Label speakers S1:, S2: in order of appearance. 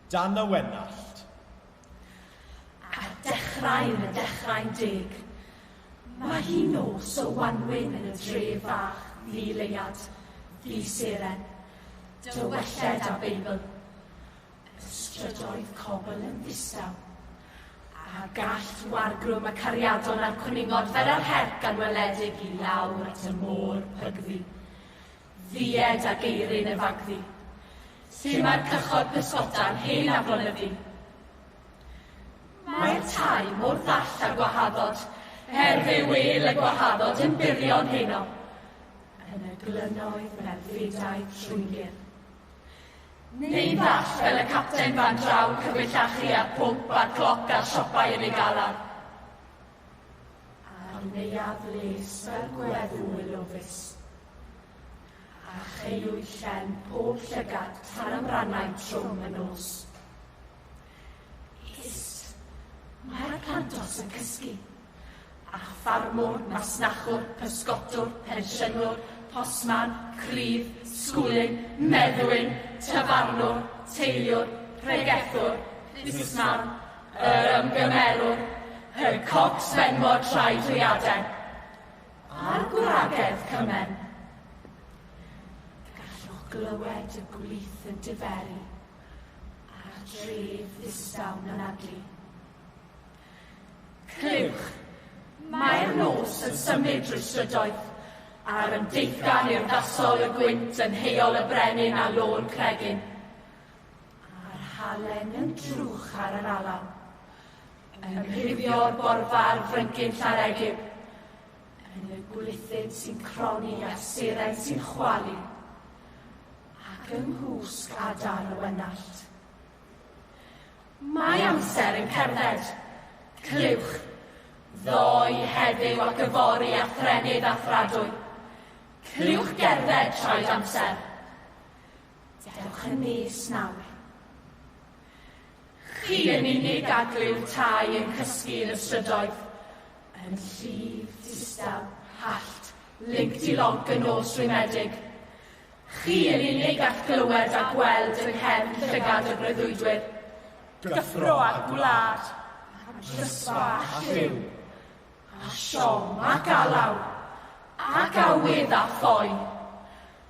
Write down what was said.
S1: Dan y Wenallt.
S2: Ar dechrau yn y dechrau'n deg, mae hi nos o wanwyn yn y dre fach ddi leuad, ddi seren, dywelled a Beibl. Y strydoedd cobl yn ddistaw, a gall wargrwm y cariadon a'r cwningod fer yr herc anweledig i lawr at y môr pygddu. ddied ag eirin y fagddu. Lle mae'r cychod pysgota'n hen aflonyddu. Mae'r tai mor ddall a gwahaddod, er fe wêl y gwahaddod yn burion heno. Yn y glynoedd mae'r fedau trwyngir. Neu'n ddall fel y capten fan draw cyfellachu a'r pwmp a'r cloc a'r siopau yn ei galar. A'r neuadd les fel gweddw y lofus. A cheuwyd llen pob llygad tan amrannau trwm y nos. Is, mae'r plantos yn cysgu. A ffarmwr, masnachwr, pysgotwr, pensiynwr, posman, crydd, sgwlyn, meddwyn, tafarnwr, teiliwr, pregethwr, busnesman, Yr ymgymerwr, Her Cox Fenmor Traedwiaden, a'r gwragedd Cymen. Gallwch glywed y gwlith yn diferu a'r dref ddistaw mynadlu. Clywch, mae'r nos yn symud drwy strydoedd a'r ymdeithgan urddasol y gwynt yn heol y brenin a lôn cregyn. A'r halen yn drwch ar yr alaw. Yn rhifio'r borfa'r fryngyn llaregib. Yn y gwlithyn sy'n croni a'r seren sy'n chwalu. Ac yng nghwsg adar y wenallt. Mae amser yn cerdded. Clywch. Ddoe, heddiw ac yfory a thrennydd a thradwy. Clywch gerdded traed amser. Dewch yn nes nawr. Chi yn unig a glyw tai yn cysgu yn y strydoedd, yn llif, distaw, hallt, linc dilonc y nos rhwymedig. Chi yn unig a'ch glywed a gweld yng nghefn llygad y breuddwydwyr. Gyffro
S1: a gwlad, a drysfa
S2: a lliw, a siom a galaw, ac awydd a phoen.